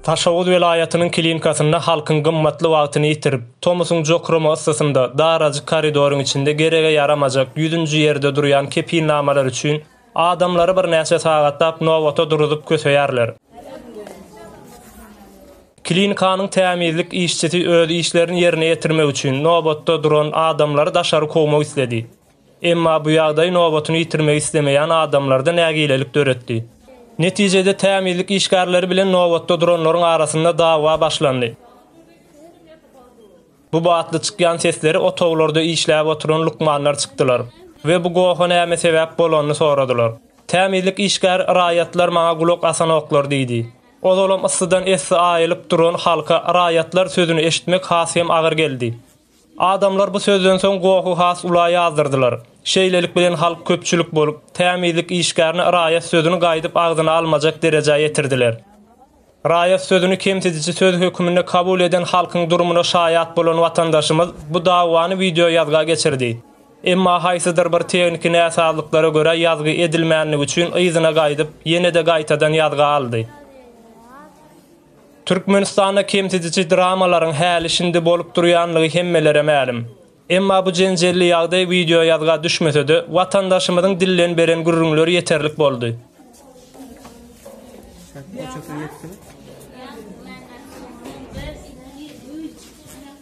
Daşoguz welaýatynyň klinikasynda halkyň gymmatly wagtyny ýitirip, tomusyň jokrama yssysynda, darajyk koridoryň içinde gerege ýaramajak, ýüzünji ýerde durýan kepilnamalar üçin adamlary birnäçe sagatlap nobata duruzyp köseýärler. Klinikanyň tämizlik işçisi öz işlerini ýerine ýetirmek üçin nobatda duran adamlary daşary kowmak isledi. Emma bu ýagdaý nobatyny ýitirmegi islemeýän adamlarda nägilelik döretdi. Netijede tämizlik işgärleri bilen nobatda duranlaryň arasynda dawa başlandy. Bu batly çykýan sesleri otaglarda işläp oturan lukmanlar çykdylar we bu goha näme sebäp bolanyny soradylar. Tämizlik işgäri raýatlar maňa gulak asanoklar diýdi. Ozalam yssydan essi aýylyp duran halka raýatlar sözüni eşitmek has hem agyr geldi. Adamlar bu sözden soň gohy has ula ýazdyrdylar. Şeýlelik bilen halk köpçülik bolup, tämizlik işgärine raýat sözüni gaýdyp agzyna almajak derejä ýetirdiler. Raýat sözüni kemsidiji söz höküminde kabul eden halkyň durumyna şaýat bolan watandaşymyz bu dawany wideoýazga geçirdi. Emma haýsydyr bir tehniki näsazlyklara görä ýazgy edilmändigi üçin yzyna gaýdyp, ýene-de gaýtadan ýazga aldy. Türkmenistanda kemsidiji dramalaryň häli-şindi bolup durýanlygy hemmelere mälim. Emma bu jenjelli ýagdaý wideoýazga düşmese-de, watandaşymyzyň dilden beren gürrüňleri ýeterlik boldy.